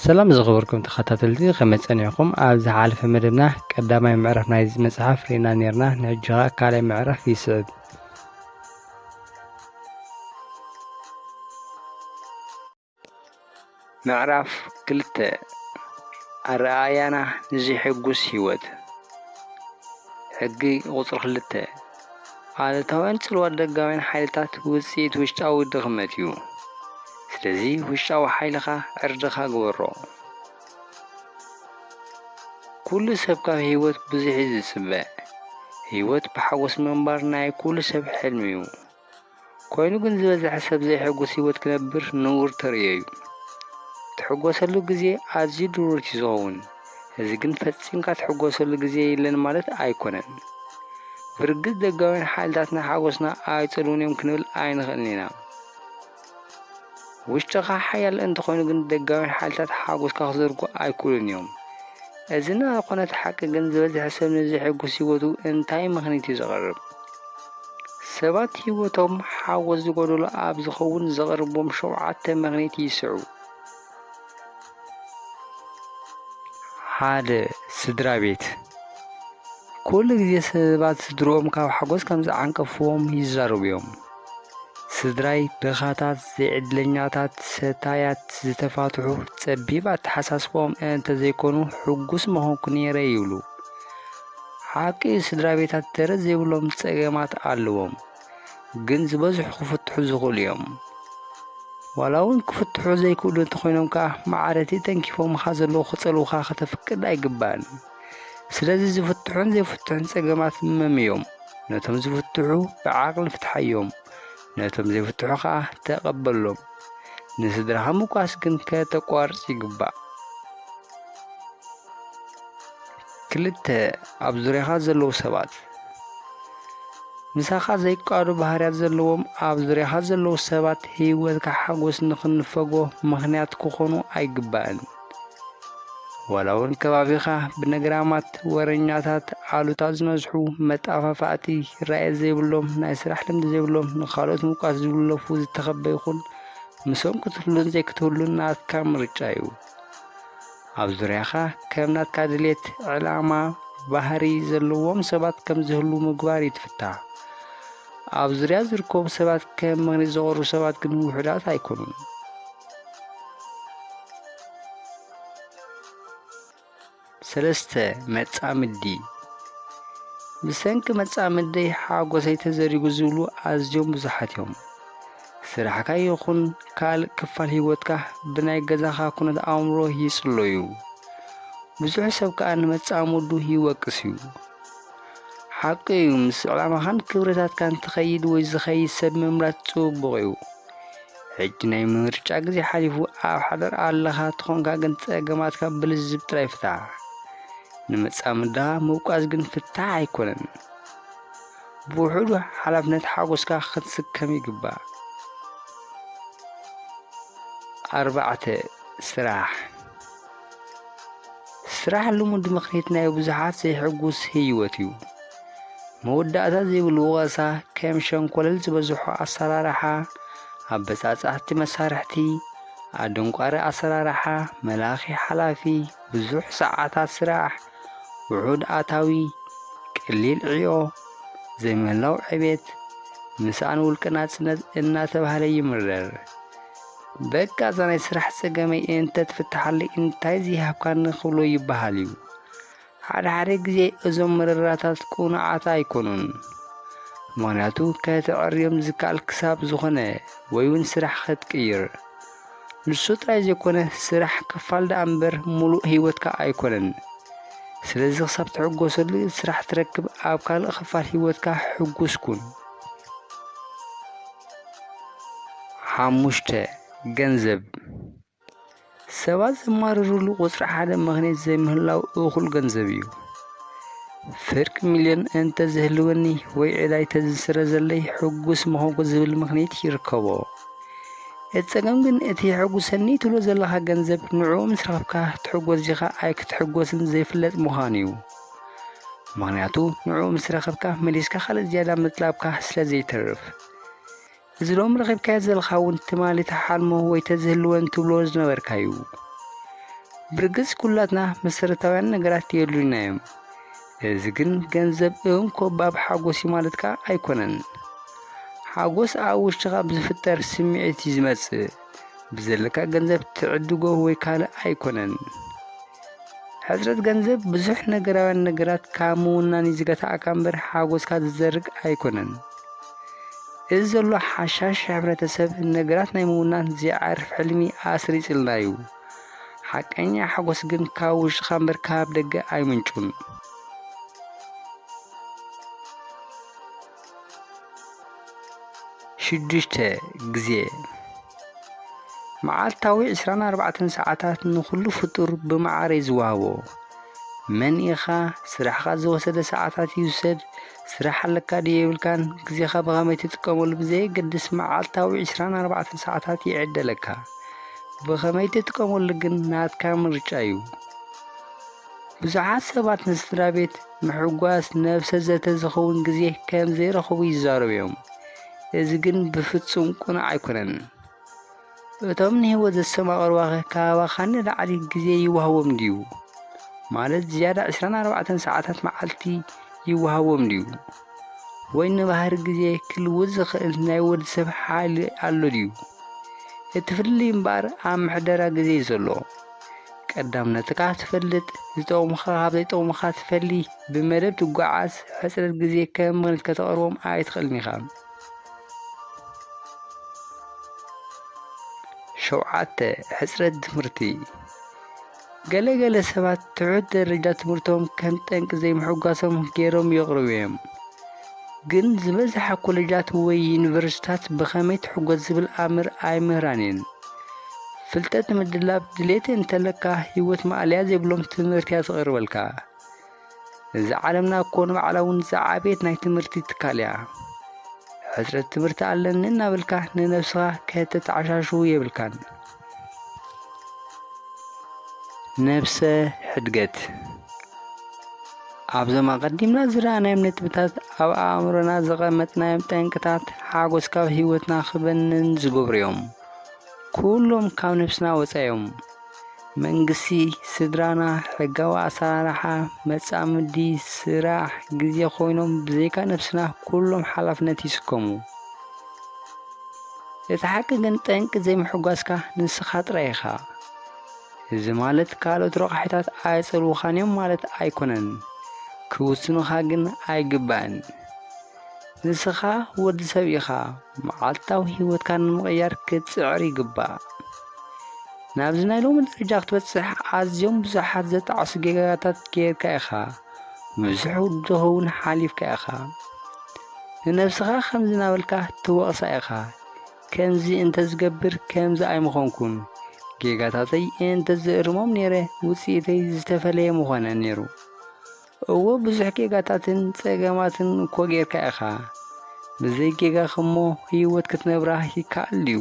ሰላም ዝኸበርኩም ተኸታተልቲ ከመይ ጸኒዕኩም ኣብ ዝሓለፈ መደብና ቀዳማይ ምዕራፍ ናይዚ መጽሓፍ ርኢና ነርና ንሕጂ ኸኣ ካልኣይ ምዕራፍ ይስዕብ ምዕራፍ ክልተ ኣረኣእያና ንዘይሕጉስ ህይወት ሕጊ ቁጽሪ ክልተ ኣሉታውያን ጽልዋ ደጋውያን ሓይልታት ውጽኢት ውሽጣዊ ድኽመት እዩ። ስለዚ ውሽጣዊ ሓይልኻ ዕርድኻ ግበሮ። ኩሉ ሰብ ካብ ህይወት ብዙሕ እዩ ዝጽበ። ህይወት ብሓጎስ ምንባር ናይ ኩሉ ሰብ ሕልሚ እዩ። ኮይኑ ግን ዝበዝሐ ሰብ ዘይሕጉስ ህይወት ክነብር ንቡር ተርእዮ'ዩ። ትሕጎሰሉ ግዜ ኣዝዩ ድሩት'ዩ ዝኸውን፣ እዚ ግን ፈጺምካ ትሕጎሰሉ ግዜ የለን ማለት ኣይኮነን። ብርግጽ ደጋውያን ሓይልታትና ሓጎስና ኣይጸልዉን'ዮም ክንብል ኣይንኽእልን ኢና። ውሽጥኻ ሓያል እንተኾይኑ ግን ደጋውያን ሓይልታት ሓጎስካ ክዘርጉ ኣይክእሉን እዮም። እዚ ንኣ ኮነት ሓቂ ግን ዝበዝሐ ሰብ ንዘሕጉስ ህይወቱ እንታይ ምኽኒት እዩ ዘቕርብ? ሰባት ህይወቶም ሓጎስ ዝጎደሎ ኣብ ዝኸውን ዘቕርቦም ሸውዓተ ምኽኒት ይስዕቡ። ሓደ ስድራ ቤት ኩሉ ግዜ ሰባት ስድርኦም ካብ ሓጎስ ከም ዝዓንቀፍዎም ይዛረቡ እዮም። ስድራይ ድኻታት፣ ዘይዕድለኛታት፣ ሰታያት፣ ዝተፋትሑ፣ ጸቢብ ኣተሓሳስብኦም እንተዘይኮኑ ሕጉስ ምኾንኩ ነይረ ይብሉ። ሓቂ ስድራ ቤታት ደረት ዘይብሎም ጸገማት ኣለዎም። ግን ዝበዝሑ ክፍትሑ ዝኽእሉ እዮም። ዋላ እውን ክፍትሑ ዘይክእሉ እንተኾይኖም ከዓ ማዕረቲ ተንኪፎምኻ ዘለዉ ክጸልዉኻ ከተፍቅድ ኣይግባእን። ስለዚ ዝፍትሑን ዘይፍትሑን ጸገማት መም እዮም። ነቶም ዝፍትሑ ብዓቕሊ ፍትሓዮም፣ ነቶም ዘይፍትሑ ከዓ ተቐበሎም። ንስድራኻ ምቋስ ግን ከተቋርጽ ይግባእ። ክልተ ኣብ ዙርያኻ ዘለዉ ሰባት ምሳኻ ዘይቃዶ ባህርያት ዘለዎም ኣብ ዙርያኻ ዘለዉ ሰባት ህይወትካ ሓጎስ ንኽንፈጎ ምኽንያት ክኾኑ ኣይግባእን። ዋላ እውን ከባቢኻ ብነግራማት ወረኛታት ኣሉታ ዝነዝሑ መጣፋፋእቲ ራየ ዘይብሎም ናይ ስራሕ ልምዲ ዘይብሎም ንካልኦት ምውቃስ ዝብለፉ ዝተኸበ ይኹን ምሶም ክትህሉን ዘይክትህሉን ናትካ ምርጫ እዩ። ኣብ ዙርያኻ ከም ናትካ ድሌት፣ ዕላማ፣ ባህሪ ዘለዎም ሰባት ከም ዝህሉ ምግባር ይትፍታ። ኣብ ዙርያ ዝርከቡ ሰባት ከም መግነዝ ዝቐርቡ ሰባት ግን ውሑዳት ኣይኮኑን። ሰለስተ፣ መጻምዲ ብሰንኪ መጻምደይ ሓጎሰይ ተዘሪጉ ዝብሉ ኣዝዮም ብዙሓት እዮም። ስራሕካ ይኹን ካልእ ክፋል ህይወትካ ብናይ ገዛኻ ኩነት ኣእምሮ ይጽለዩ። ብዙሕ ሰብ ከኣ ንመጻምዱ ይወቅስ እዩ። ሓቂ እዩ ምስ ዕላማኻን ክብረታትካን ትኸይድ ወይ ዝኸይድ ሰብ ምምራት ጽቡቕ እዩ። ሕጂ ናይ ምርጫ ግዜ ሓሊፉ ኣብ ሓዳር ኣለኻ ተኾንካ ግን ጸገማትካ ብልዝብ ጥራይ ፍታሕ። ንመጻምድኻ ምውቃስ ግን ፍታሕ ኣይኮነን። ብውሕዱ ሓላፍነት ሓጎስካ ክትስከም ይግባእ። ኣርባዕተ ስራሕ ስራሕ ልሙድ ምኽኒት ናይ ብዙሓት ዘይሕጉስ ህይወት እዩ። መወዳእታ ዘይብሉ ወቐሳ፣ ከም ሸንኮለል ዝበዝሖ ኣሰራርሓ፣ ኣብ በጻጻሕቲ መሳርሕቲ፣ ኣደንቋሪ ኣሰራርሓ፣ መላኺ ሓላፊ፣ ብዙሕ ሰዓታት ስራሕ፣ ውሑድ ኣታዊ፣ ቀሊል ዕዮ፣ ዘይምህላው ዕቤት፣ ምስኣን ውልቀ ናጽነት እናተባህለ ይምረር። በቃ እዛ ናይ ስራሕ ጸገመይ እንተትፍትሓለይ እንታይ ዘይሃብካኒ ክብሎ ይበሃል እዩ። ሓደ ሓደ ግዜ እዞም መረራታት ቅኑዓት ኣይኮኑን። ምክንያቱ ከተዕርዮም ዝከኣል ክሳብ ዝኾነ ወይ እውን ስራሕ ከትቅይር ንሱ ጥራይ ዘይኮነ ስራሕ ክፋል ደኣ እምበር ሙሉእ ህይወትካ ኣይኮነን። ስለዚ ክሳብ ትሕጎሰሉ ስራሕ ትረክብ ኣብ ካልእ ክፋል ህይወትካ ሕጉስ ኩን። ሓሙሽተ፣ ገንዘብ ሰባት ዘማርርሉ ቁፅሪ ሓደ ምኽንያት ዘይምህላው እኹል ገንዘብ እዩ። ፍርቂ ሚልዮን እንተዝህልወኒ ወይ ዕዳይ ተዝስረዘለይ ሕጉስ ምኾንኩ ዝብል ምኽንያት ይርከቦ። እቲ ጸገም ግን እቲ የሐጉሰኒ ትብሎ ዘለኻ ገንዘብ ንዕኡ ምስ ረኸብካ ትሕጎስ ዲኻ ኣይክትሕጎስን ዘይፍለጥ ምዃኑ እዩ። ምኽንያቱ ንዕኡ ምስ ረኸብካ መሊስካ ካልእ ዝያዳ ምጥላብካ ስለ ዘይተርፍ እዚ ሎም ረኺብካዮ ዘለኻ እውን ትማሊ ተሓልሞ ወይ ተዝህልወን ትብሎ ዝነበርካ እዩ ብርግጽ ኩላትና መሰረታውያን ነገራት የድሉና እዮም እዚ ግን ገንዘብ እውን ኮባብ ሓጎስ እዩ ማለትካ ኣይኮነን ሓጎስ ኣብ ውሽጥኻ ብዝፍጠር ስምዒት እዩ ዝመጽእ ብዘለካ ገንዘብ ትዕድጎ ወይ ካልእ ኣይኮነን ሕጽረት ገንዘብ ብዙሕ ነገራውያን ነገራት ካብ ምውናን እዩ ዝገታእካ እምበር ሓጎስካ ዝዘርግ ኣይኮነን። እዚ ዘሎ ሓሻሽ ሕብረተሰብ ነገራት ናይ ምውናን ዘይዓርፍ ሕልሚ ኣስሪጽልና እዩ። ሓቀኛ ሓጎስ ግን ካብ ውሽጥኻ እምበር ካብ ደገ ኣይምንጩን። ሽዱሽተ ግዜ መዓልታዊ ዕስራን ኣርባዕተን ሰዓታት ንኹሉ ፍጡር ብመዓር እዩ ዝወሃቦ። መን ኢኻ ስራሕኻ ዝወሰደ ሰዓታት ይውሰድ ስራሕ ኣለካ ድዩ የብልካን ግዜኻ ብኸመይ ትጥቀመሉ ብዘየገድስ መዓልታዊ ዕስራን ኣርባዕተን ሰዓታት ይዕደለካ። ብኸመይ ትጥቀመሉ ግን ናትካ ምርጫ እዩ። ብዙሓት ሰባት ንስድራ ቤት ምሕጓስ ነብሰ ዘተ ዝኸውን ግዜ ከም ዘይረኽቡ ይዛረቡ እዮም። እዚ ግን ብፍጹም ቅኑዕ ኣይኮነን። እቶም ንህይወት ዘሰማቕርዋኸ ካባኻ ንላዕሊ ግዜ ይወሃቦም ድዩ? ማለት ዝያዳ 24 ሰዓታት መዓልቲ ይወሃቦም ድዩ? ወይ ንባህሪ ግዜ ክልውጥ ዝኽእል ናይ ወዲ ሰብ ሓይሊ ኣሎ ድዩ? እቲ ፍልልይ እምበኣር ኣብ ምሕደራ ግዜ እዩ ዘሎ። ቀዳምነትካ ትፈልጥ፣ ዝጠቕሙኻ ካብ ዘይጠቕሙኻ ትፈሊ፣ ብመደብ ትጓዓዝ፣ ሕፅረት ግዜ ከም ምኽንያት ከተቕርቦም ኣይትኽእልን ኢኻ። ሸውዓተ ሕፅረት ትምህርቲ ገለ ገለ ሰባት ትሑት ደረጃ ትምህርቶም ከም ጠንቂ ዘይምሕጓሶም ገይሮም የቕርቡ እዮም። ግን ዝበዝሓ ኮለጃት ወይ ዩኒቨርሲታት ብኸመይ ትሕጎስ ዝብል ኣምር ኣይምህራን እየን። ፍልጠት ንምድላብ ድሌት እንተለካ ህይወት ማእለያ ዘይብሎም ትምህርቲ እያ ትቕርበልካ። እዛ ዓለምና እኮ ንባዕላ እውን ዝዓበየት ናይ ትምህርቲ ትካል እያ። ሕፅረት ትምህርቲ ኣለኒ እናበልካ ንነብስኻ ከተተዓሻሽው የብልካን። ነብሰ ሕድገት ኣብዞም ኣቐዲምና ዝረኣናዮም ነጥብታት ኣብ ኣእምሮና ዘቐመጥናዮም ጠንቅታት ሓጎስ ካብ ህይወትና ክበንን ዝገብሩ እዮም። ኩሎም ካብ ነብስና ወፃኢ እዮም። መንግስቲ፣ ስድራና፣ ሕጋዊ ኣሰራርሓ፣ መጻምዲ፣ ስራሕ፣ ግዜ ኮይኖም ብዘይካ ነብስና ኩሎም ሓላፍነት ይስከሙ። እቲ ሓቂ ግን ጠንቂ ዘይምሕጓስካ ንስኻ ጥራይ ኢኻ። እዚ ማለት ካልኦት ረቛሒታት ኣየጸልዉኻን እዮም ማለት ኣይኮነን፣ ክውስኑኻ ግን ኣይግባእን። ንስኻ ወዲ ሰብ ኢኻ፣ መዓልታዊ ህይወትካ ንምቕያር ክትጽዕር ይግባእ። ናብዚ ናይ ሎሚ ደረጃ ክትበጽሕ ኣዝዮም ብዙሓት ዘጣዕሱ ጌጋታት ጌርካ ኢኻ፣ ብዙሕ ውድኸውን ሓሊፍካ ኢኻ። ንነብስኻ ከምዚ ናበልካ ትወቕሳ ኢኻ፣ ከምዚ እንተዝገብር ከምዚ ኣይምኾንኩን፣ ጌጋታተይ እንተዝእርሞም ነይረ ውጽኢተይ ዝተፈለየ ምኾነ ነይሩ። እወ ብዙሕ ጌጋታትን ጸገማትን እኮ ጌርካ ኢኻ፣ ብዘይ ጌጋኸሞ ህይወት ክትነብራ ይከኣል ድዩ?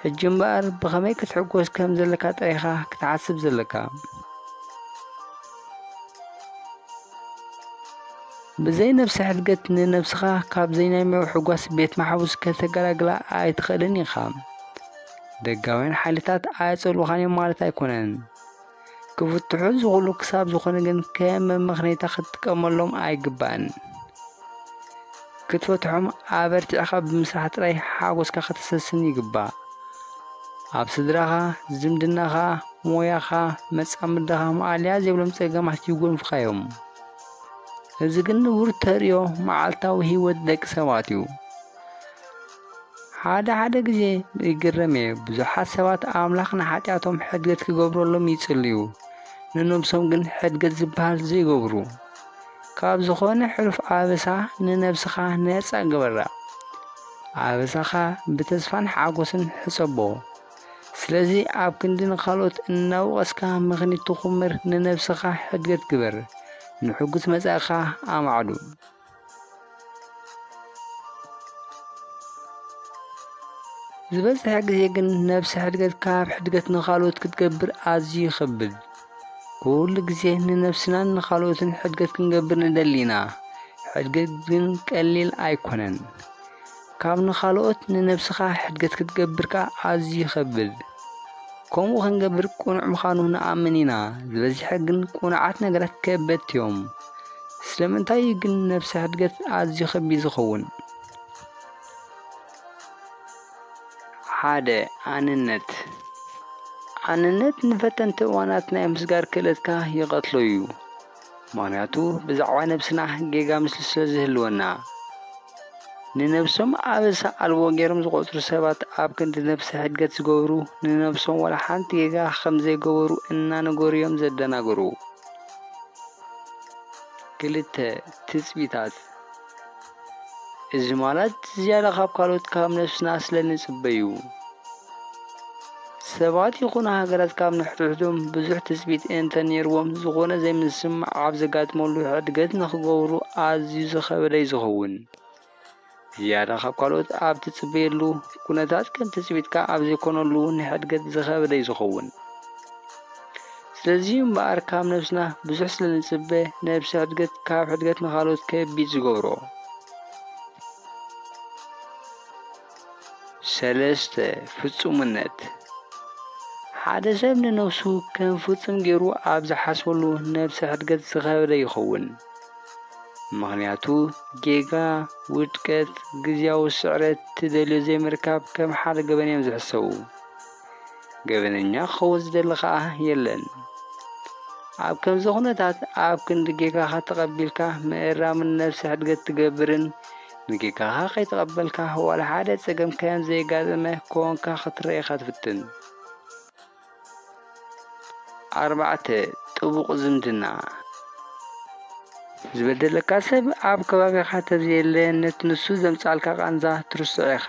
ሕጂ እምበኣር ብኸመይ ክትሕጎስ ከም ዘለካ ጥራይኻ ክትሓስብ ዘለካ። ብዘይ ነብሰ ሕድገት ንነብስኻ ካብ ዘይናይ ምውሕጓስ ቤት ማሕቡስ ከተገላግላ ኣይትኽእልን ኢኻ። ደጋውያን ሓይልታት ኣየጸልኡኻን እዮም ማለት ኣይኮነን። ክፍትሑ ዝኽእሉ ክሳብ ዝኾነ ግን ከም መመኽነይታ ክትጥቀመሎም ኣይግባእን። ክትፈትሖም ኣበርቲዕካ ብምስራሕ ጥራይ ሓጎስካ ከተሰስን ይግባእ። ኣብ ስድራኻ፣ ዝምድናኻ፣ ሞያኻ፣ መጻምድኻ ማኣለያ ዘይብሎም ጸገማት ይጎንፉኻ እዮም። እዚ ግን ንቡር ተርእዮ መዓልታዊ ህይወት ደቂ ሰባት እዩ። ሓደ ሓደ ግዜ ይግረም እየ፣ ብዙሓት ሰባት ኣምላኽ ንሓጢኣቶም ሕድገት ክገብረሎም ይጽልዩ፣ ንነብሶም ግን ሕድገት ዝበሃል ዘይገብሩ። ካብ ዝኾነ ሕሉፍ ኣበሳ ንነብስኻ ነጻ ግበራ። ኣበሳኻ ብተስፋን ሓጎስን ሕጸቦ። ስለዚ ኣብ ክንዲ ንኻልኦት እናወቐስካ ምኽኒት ትኹምር ንነብስኻ ሕድገት ግበር። ንሕጉስ መጻኢኻ ኣማዕዱ። ዝበዝሐ ግዜ ግን ነብሰ ሕድገት ካብ ሕድገት ንኻልኦት ክትገብር ኣዝዩ ይኸብድ። ኩሉ ግዜ ንነብስናን ንኻልኦትን ሕድገት ክንገብር ንደሊ ኢና። ሕድገት ግን ቀሊል ኣይኮነን። ካብ ንኻልኦት ንነብስኻ ሕድገት ክትገብር ከኣ ኣዝዩ ይኸብድ። ከምኡ ክንገብር ቅኑዕ ምዃኑ ንኣምን ኢና፣ ዝበዝሐ ግን ቅኑዓት ነገራት ከበድቲ እዮም። ስለምንታይ እዩ ግን ነብሰ ሕድገት ኣዝዩ ከቢድ ዝኸውን? ሓደ፣ ኣንነት። ኣንነት ንፈተንቲ እዋናት ናይ ምስጋር ክእለትካ ይቐትሎ እዩ። ምክንያቱ ብዛዕባ ነብስና ጌጋ ምስሊ ስለ ዝህልወና። ንነብሶም ኣበሳ ኣልቦ ገይሮም ዝቖጽሩ ሰባት ኣብ ክንዲ ነብሰ ሕድገት ዝገብሩ ንነብሶም ዋላ ሓንቲ ጌጋ ከም ዘይገበሩ እናነገሩ'ዮም ዘደናግሩ። ክልተ ትጽቢታት። እዚ ማለት ዝያዳ ካብ ካልኦት ካብ ነፍስና ስለ ንጽበዩ ሰባት ይኹኑ ሃገራት ካብ ንሕድሕዶም ብዙሕ ትጽቢት እንተ ነይርዎም ዝኾነ ዘይምስምማዕ ኣብ ዘጋጥመሉ ሕድገት ንኽገብሩ ኣዝዩ ዝኸበደ እዩ ዝኸውን። ዝያዳ ካብ ካልኦት ኣብ ትጽበየሉ ኩነታት ከም ትጽቢትካ ኣብ ዘይኮነሉ ንሕድገት ዝኸበደ እዩ ዝኸውን። ስለዚ'ዩ እምበኣር ካብ ነብስና ብዙሕ ስለ ንጽበ ነብሰ ሕድገት ካብ ሕድገት ንኻልኦት ከቢድ ዝገብሮ። ሰለስተ፣ ፍጹምነት ሓደ ሰብ ንነብሱ ከም ፍጹም ገይሩ ኣብ ዝሓስበሉ ነብሰ ሕድገት ዝኸበደ ይኸውን። ምኽንያቱ ጌጋ፣ ውድቀት፣ ግዝያዊ ስዕረት፣ ትደልዮ ዘይምርካብ ከም ሓደ ገበን እዮም ዝሕሰቡ። ገበነኛ ክኸውን ዝደሊ ከኣ የለን። ኣብ ከምዚ ኩነታት ኣብ ክንዲ ጌጋኻ ተቐቢልካ ምእራምን ነብሲ ሕድገት ትገብርን ንጌጋኻ ከይተቐበልካ ዋላ ሓደ ጸገም ከም ዘየጋጠመ ኮንካ ክትረአ ኢኻ ትፍትን። ኣርባዕተ ጥቡቕ ዝምድና ዝበደለካ ሰብ ኣብ ከባቢኻ ተዘየለ ነቲ ንሱ ዘምጽኣልካ ቃንዛ ትርስዖ ኢኻ።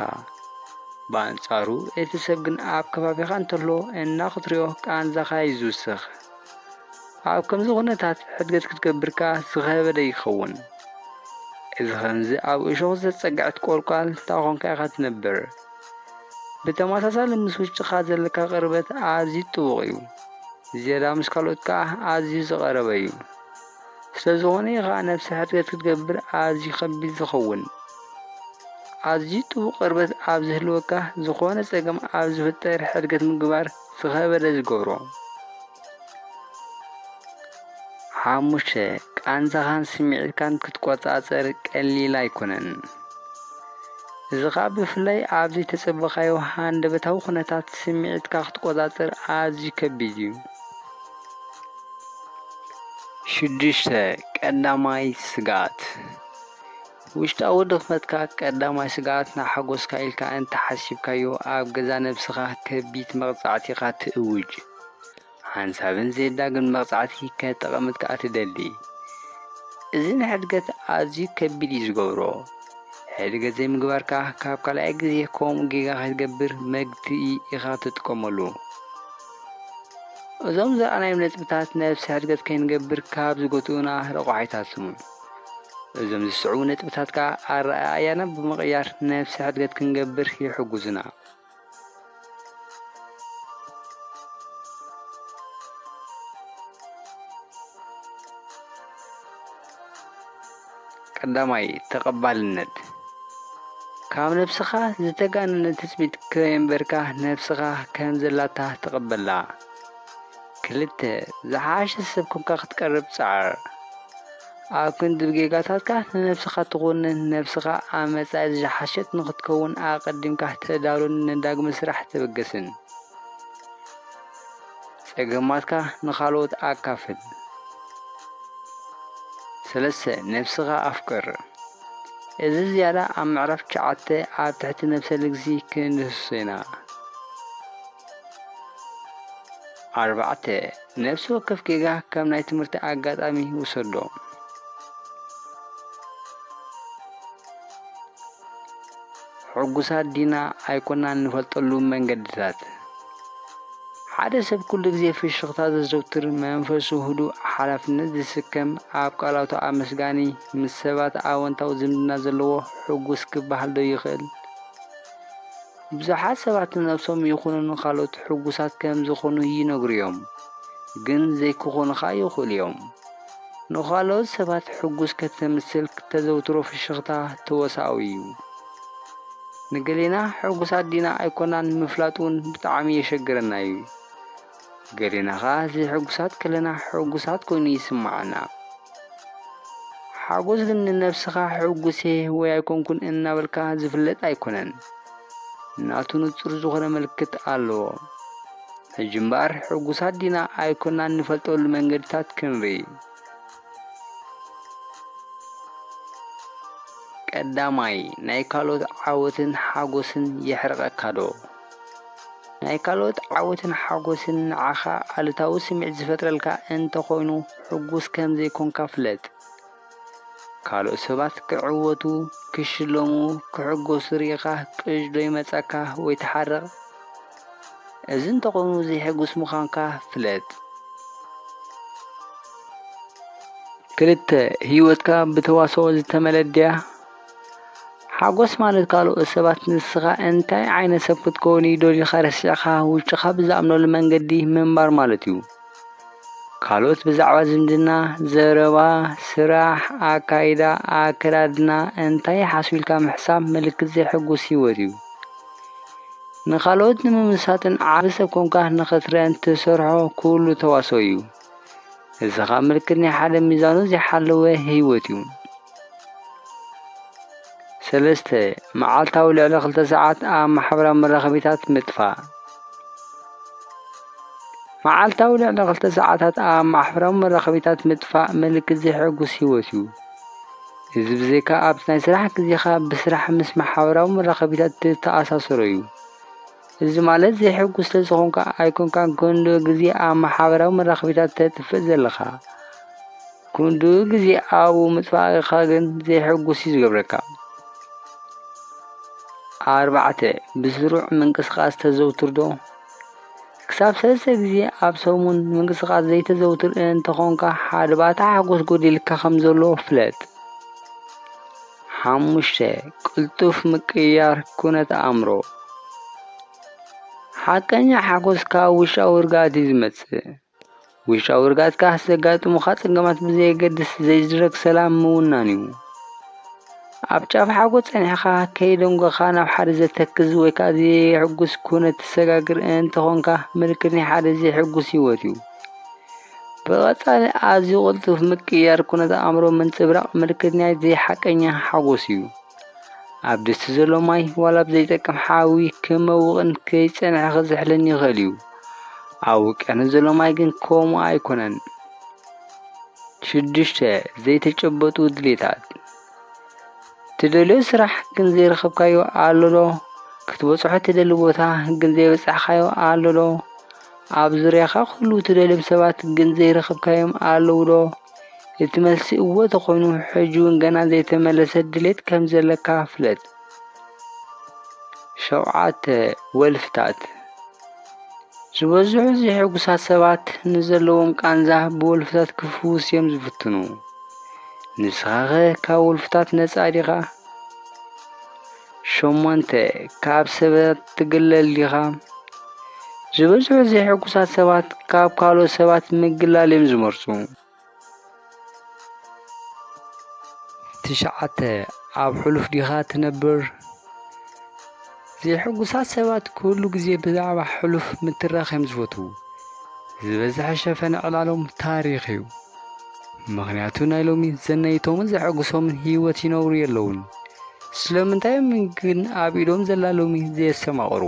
ብኣንጻሩ እቲ ሰብ ግን ኣብ ከባቢኻ እንተሎ እና ክትሪኦ ቃንዛኻ እዩ ዝውስኽ። ኣብ ከምዚ ኩነታት ሕድገት ክትገብር ከኣ ዝኸበደ ይኸውን። እዚ ከምዚ ኣብ እሾኽ ዝተጸግዐት ቆልቋል ታኾንካ ኢኻ ትነብር። ብተመሳሳሊ ምስ ውሽጥኻ ዘለካ ቅርበት ኣዝዩ ጥቡቕ እዩ። ዝያዳ ምስ ካልኦት ከኣ ኣዝዩ ዝቐረበ እዩ። ስለዝኾነ እዩ ኸኣ ነብሰ ሕርየት ክትገብር ኣዝዩ ከቢድ ዝኸውን። ኣዝዩ ጥቡቕ ቅርበት ኣብ ዝህልወካ ዝኾነ ጸገም ኣብ ዝፍጠር ሕድገት ምግባር ዝኸበደ ዝገብሮ። ሓሙሽተ ቃንዛኻን ስምዒትካን ክትቆጻጸር ቀሊል ኣይኮነን። እዚ ኸኣ ብፍላይ ኣብ ዘይተጸበኻዮ ሃንደበታዊ ኩነታት ስምዒትካ ክትቆጻጸር ኣዝዩ ከቢድ እዩ። ሽዱሽተ፣ ቀዳማይ ስግኣት፣ ውሽጣዊ ድኽመትካ ቀዳማይ ስግኣት ንሓጐስካ ኢልካ እንተ ሓሲብካዮ ኣብ ገዛ ነብስኻ ከቢት መቕጻዕቲኻ ትእውጅ። ሓንሳብን ዜዳግምን መቕጻዕቲ ከተቐምጥ ከኣ ትደሊ። እዚ ንሕድገት ኣዝዩ ከቢድ እዩ ዝገብሮ። ሕድገት ዘይምግባርካ ካብ ካልኣይ ግዜ ከምኡ ጌጋ ከይትገብር መግትኢ ኢኻ ትጥቀመሉ። እዞም ዝረኣናዮም ነጥብታት ነብሰ ሕድገት ከይንገብር ካብ ዝጎትኡና ረቋሒታት ስሙን። እዞም ዝስዕቡ ነጥብታት ከኣ ኣረኣእያና ብምቕያር ነብሰ ሕድገት ክንገብር ይሕጉዙና። ቀዳማይ፣ ተቐባልነት፣ ካብ ነብስኻ ዝተጋነነ ትጽቢት ከየንበርካ ነብስኻ ከም ዘላታ ተቐበላ። ክልተ፣ ዝሓሸ ሰብ ኮንካ ክትቀርብ ጻዕር፣ ኣብ ክንዲ ብጌጋታትካ ንነብስኻ ትኹንን ነብስኻ ኣብ መጻኢ ዝሓሸት ንኽትከውን ኣቐዲምካ ተዳሉን ንዳግመ ስራሕ ተበገስን። ጸገማትካ ንኻልኦት ኣካፍል። ሰለስተ፣ ነብስኻ ኣፍቅር። እዚ ዝያዳ ኣብ ምዕራፍ ትሽዓተ ኣብ ትሕቲ ነብሰ ልግሲ ክንድህስሶ ኢና። ኣርባዕተ፣ ነብሲ ወከፍ ጌጋ ከም ናይ ትምህርቲ ኣጋጣሚ ውሰዶ። ሕጉሳት ዲና ኣይኮናን ንፈልጠሉ መንገድታት። ሓደ ሰብ ኩሉ ግዜ ፍሽኽታ ዘዘውትር፣ መንፈሱ ህዱእ፣ ሓላፍነት ዝስከም፣ ኣብ ቃላቱ ኣመስጋኒ፣ ምስ ሰባት ኣወንታዊ ዝምድና ዘለዎ ሕጉስ ክበሃል ዶ ይኽእል? ብዙሓት ሰባት ንነብሶም ይኹኑ ንኻልኦት ሕጉሳት ከም ዝኾኑ ይነግሩ'ዮም፣ ግን ዘይክኾኑኻ ይኽእሉ'ዮም። ንኻልኦት ሰባት ሕጉስ ከተምስል እተዘውትሮ ፍሽኽታ ተወሳኦ ኢዩ። ንገሌና ሕጉሳት ዲና ኣይኰናን ምፍላጥ እውን ብጣዕሚ የሸግረና ኢዩ። ገሌና ኸኣ ዘይሕጉሳት ከለና ሕጉሳት ኰይኑ ይስምዓና። ሓጐስ ግን ንነብስኻ ሕጉስ እየ ወይ ኣይኰንኩን እናበልካ ዝፍለጥ ኣይኰነን። ናቱ ንጹር ዝዀነ ምልክት ኣለዎ። ሕጂ እምበኣር ሕጉሳት ዲና ኣይኮናን ንፈልጠሉ መንገድታት ክንርኢ። ቀዳማይ ናይ ካልኦት ዓወትን ሓጎስን የሕርቐካዶ? ናይ ካልኦት ዓወትን ሓጎስን ንዓኻ ኣሉታዊ ስምዒት ዝፈጥረልካ እንተኾይኑ ሕጉስ ከም ዘይኮንካ ፍለጥ። ካልኦት ሰባት ክዕወቱ፣ ክሽለሙ፣ ክሕጎሱ ርኢኻ ቅዥ ዶ ይመጸካ ወይ ትሓርቕ? እዚ እንተኾይኑ ዘይሕጉስ ምዃንካ ፍለጥ። ክልተ፣ ህይወትካ ብተዋስኦ ዝተመለት ድያ? ሓጎስ ማለት ካልኦት ሰባት ንስኻ እንታይ ዓይነት ሰብ ክትከውን እዩ ደሊኻ ረሲዕካ ውሽጥኻ ብዝኣምነሉ መንገዲ ምንባር ማለት እዩ። ካልኦት ብዛዕባ ዝምድና፣ ዘረባ፣ ስራሕ፣ ኣካይዳ፣ ኣከዳድና እንታይ ይሓስቡ ኢልካ ምሕሳብ ምልክት ዘይሕጉስ ህይወት እዩ። ንኻልኦት ንምምሳጥን ዓቢ ሰብ ኮንካ ንኽትረእን ትሰርሖ ኩሉ ተዋስኦ እዩ። እዚ ኸኣ ምልክት ናይ ሓደ ሚዛኑ ዘይሓለወ ህይወት እዩ። ሰለስተ፣ መዓልታዊ ልዕሊ ክልተ ሰዓት ኣብ ማሕበራዊ መራኸቢታት ምጥፋእ። መዓልታዊ ልዕሊ ክልተ ሰዓታት ኣብ ማሕበራዊ መራኸቢታት ምጥፋእ ምልክት ዘይሕጉስ ህይወት እዩ። እዚ ብዘይካ ኣብቲ ናይ ስራሕ ግዜኻ ብስራሕ ምስ ማሕበራዊ መራኸቢታት ዝተኣሳሰሮ እዩ። እዚ ማለት ዘይሕጉስ ስለዝኾንካ ኣይኮንካን ክንድኡ ግዜ ኣብ ማሕበራዊ መራኸቢታት ተጥፍእ ዘለኻ። ክንድኡ ግዜ ኣብኡ ምጥፋእካ ግን ዘይሕጉስ እዩ ዝገብረካ። ኣርባዕተ ብስሩዕ ምንቅስቓስ ተዘውትር ዶ? ክሳብ ሰለስተ ግዜ ኣብ ሰሙን ምንቅስቓስ ዘይተዘውትር እንተኾንካ ሓደባታ ሓጎስ ጎዲልካ ከም ዘሎ ፍለጥ። ሓሙሽተ፣ ቅልጡፍ ምቅይያር ኩነት ኣእምሮ፣ ሓቀኛ ሓጎስ ካብ ውሽጣዊ ርግኣት እዩ ዝመጽእ። ውሽጣዊ ርግኣትካ ዘጋጥሙኻ ጸገማት ብዘየገድስ ዘይድረግ ሰላም ምውናን እዩ። ኣብ ጫፍ ሓጎስ ጸኒሕኻ ከይደንጎኻ ናብ ሓደ ዘተክዝ ወይ ከዓ ዘየሕጉስ ኩነት ትሰጋግር እንተኾንካ ምልክት ናይ ሓደ ዘይሕጉስ ህይወት እዩ። ብቐጻሊ ኣዝዩ ቅልጡፍ ምቅይያር ኩነተ ኣእምሮ ምንጽብራቕ ምልክት ናይ ዘይሓቀኛ ሓጎስ እዩ። ኣብ ድስቲ ዘሎ ማይ ዋላ ኣብ ዘይጠቅም ሓዊ ክመውቕን ከይጸንሐ ክዝሕልን ይኽእል እዩ። ኣብ ውቅያኖስ ዘሎ ማይ ግን ከምኡ ኣይኮነን። ሽዱሽተ ዘይተጨበጡ ድሌታት ትደልዮ ስራሕ ግን ዘይረኸብካዮ ኣሎ ዶ? ክትበጽሖ ትደሊ ቦታ ግን ዘይበጻሕካዮ ኣሎ ዶ? ኣብ ዙርያኻ ኹሉ እትደልዮም ሰባት ግን ዘይረኸብካዮም ኣለዉዶ? እቲ መልሲ እወ ተኾይኑ ሕጂውን ገና ዘይተመለሰ ድሌት ከምዘለካ ፍለጥ። ሸውዓተ፣ ወልፍታት ዝበዝሑ ዘይሕጉሳት ሰባት ንዘለዎም ቃንዛ ብወልፍታት ክፍውስ እዮም ዝፍትኑ። ንስኻኸ ካብ ወልፍታት ነጻ ዲኻ? ሸሞንተ፣ ካብ ሰባት ትግለል ዲኻ? ዝበዝሑ ዘይሕጉሳት ሰባት ካብ ካልኦት ሰባት ምግላል እዮም ዝመርጹ። ትሽዓተ፣ ኣብ ሕሉፍ ዲኻ ትነብር? ዘይሕጉሳት ሰባት ኩሉ ግዜ ብዛዕባ ሕሉፍ ምትራኽ እዮም ዝፈትዉ። ዝበዝሐ ሸፈነ ዕላሎም ታሪኽ እዩ። ምኽንያቱ ናይ ሎሚ ዘነይቶምን ዘሐጉሶምን ህይወት ይነብሩ የለውን። ስለምንታይ ግን ኣብ ኢዶም ዘላ ሎሚ ዘየስተማቕሩ?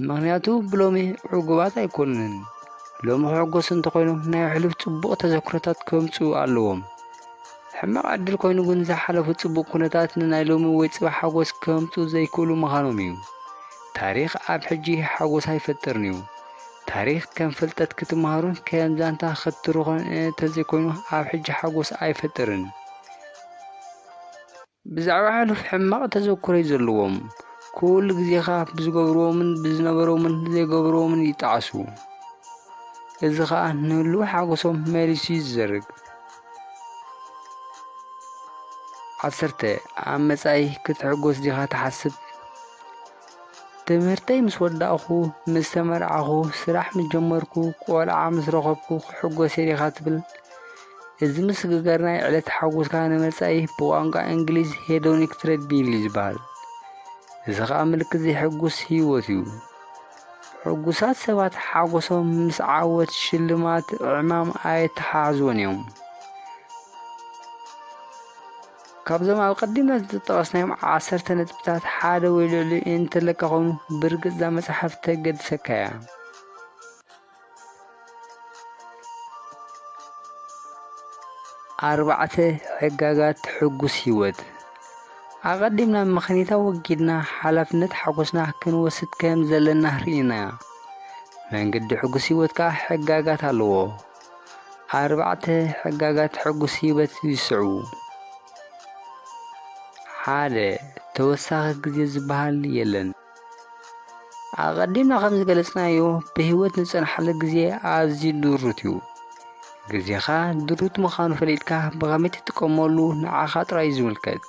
ምኽንያቱ ብሎሚ ዕጉባት ኣይኮኑን። ሎሚ ክሕጎሱ እንተኾይኖም ናይ ሕሉፍ ጽቡቕ ተዘክሮታት ከምጽኡ ኣለዎም። ሕማቕ ዕድል ኮይኑ ግን ዝሓለፉ ጽቡቕ ኩነታት ንናይ ሎሚ ወይ ጽባሕ ሓጎስ ከምጽኡ ዘይክእሉ ምዃኖም እዩ። ታሪኽ ኣብ ሕጂ ሓጎስ ኣይፈጥርን እዩ። ታሪኽ ከም ፍልጠት ክትመሃሮን ከም ዛንታ ክትትርኾን እንተዘይኮይኑ ኣብ ሕጂ ሓጎስ ኣይፈጥርን። ብዛዕባ ሕሉፍ ሕማቕ ተዘኩረይ ዘለዎም ኩሉ ግዜኻ ብዝገብርዎምን ብዝነበሮምን ዘይገብርዎምን ይጠዓሱ። እዚ ኸኣ ንህሉው ሓጎሶም መሊሱ እዩ ዝዘርግ። ዓሰርተ ኣብ መጻኢ ክትሕጎስ ዲኻ ትሓስብ? ትምህርተይ ምስ ወዳእኹ፣ ምስ ተመርዓኹ፣ ስራሕ ምስ ጀመርኩ፣ ቆልዓ ምስ ረኸብኩ ክሕጎስ እየ ዲኻ ትብል? እዚ ምስግጋር ናይ ዕለት ሓጎስካ ንመጻኢ ብቋንቋ እንግሊዝ ሄዶኒክ ትሬድሚል እዩ ዝበሃል። እዚ ኸኣ ምልክት ዘይሕጉስ ህይወት እዩ። ሕጉሳት ሰባት ሓጎሶም ምስ ዓወት፣ ሽልማት፣ ዕማም ኣየተሓሕዝዎን እዮም። ካብዞም ኣብ ቀዲምና ዝተጠቐስናዮም ዓሰርተ ነጥብታት ሓደ ወይ ልዕሊኡ እንተለካ ኮይኑ ብርግጽ እዛ መጽሓፍ ተገድሰካ እያ። ኣርባዕተ ሕጋጋት ሕጉስ ህይወት ኣቐዲምና ምኽኒታ ወጊድና ሓላፍነት ሓጎስና ክንወስድ ከም ዘለና ርኢና። መንገዲ ሕጉስ ህይወት ከኣ ሕጋጋት ኣለዎ። ኣርባዕተ ሕጋጋት ሕጉስ ህይወት ይስዕቡ። ሓደ ተወሳኺ ግዜ ዝበሃል የለን። ኣቐዲምና ከም ዝገለጽናዮ ብህይወት ንጸንሓሉ ግዜ ኣዝዩ ድሩት እዩ። ግዜኻ ድሩት ምዃኑ ፈሊጥካ ብኸመይ ትጥቀመሉ ንዓኻ ጥራይ እዩ ዝምልከት።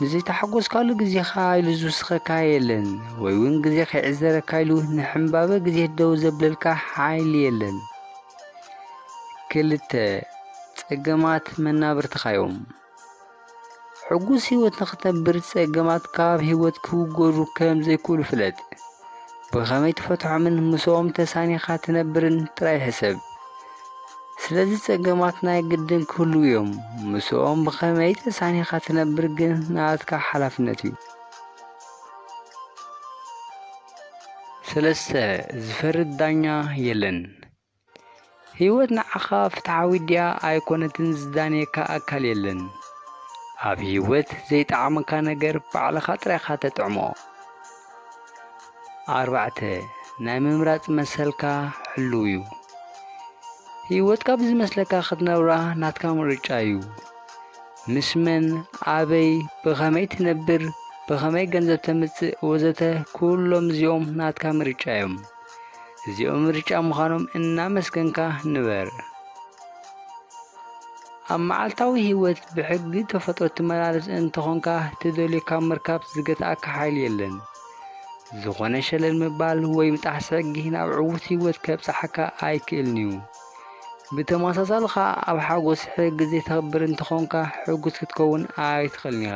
ንዘይተሓጎስካሉ ግዜኻ ኢሉ ዝውስኸካ የለን ወይ እውን ግዜ ከይዕዘረካ ኢሉ ንሕምባበ ግዜ ደው ዘብለልካ ሓይሊ የለን ክልተ ጸገማት መናብርትኻ እዮም ሕጉስ ህይወት ንኽተንብር ጸገማት ካብ ህይወት ክውገዱ ከም ዘይክእሉ ፍለጥ ብኸመይ ትፈትሖምን ምስኦም ተሳኒኻ ትነብርን ጥራይ ሕሰብ ስለዚ ጸገማት ናይ ግድን ክህሉ እዮም። ምስኦም ብኸመይ ተሳኒኻ ትነብር ግን ናትካ ሓላፍነት እዩ። ሰለስተ ዝፈርድ ዳኛ የለን። ህይወት ንዓኻ ፍትሓዊ ድያ ኣይኮነትን ዝዳንየካ ኣካል የለን። ኣብ ህይወት ዘይጠዓመካ ነገር ባዕልኻ ጥራይኻ ተጥዕሞ። ኣርባዕተ፣ ናይ ምምራጽ መሰልካ ሕሉው እዩ። ህይወትካ ብዝመስለካ ክትነብራ ናትካ ምርጫ እዩ። ምስ መን፣ ኣበይ፣ ብኸመይ ትነብር፣ ብኸመይ ገንዘብ ተምጽእ ወዘተ ኩሎም እዚኦም ናትካ ምርጫ እዮም። እዚኦም ምርጫ ምዃኖም እናመስገንካ ንበር። ኣብ መዓልታዊ ህይወት ብሕጊ ተፈጥሮ ትመላለስ እንተኾንካ ትደልዮ ካብ ምርካብ ዝገትኣካ ሓይሊ የለን። ዝኾነ ሸለል ምባል ወይ ምጣሕሲ ሕጊ ናብ ዕዉት ህይወት ከብጽሓካ ኣይክእልን'ዩ። ብተመሳሳሊ ኸኣ ኣብ ሓጎስ ሕጊ ዘይተኽብር እንተኾንካ ሕጉስ ክትከውን ኣይትኽእልን ኢኻ።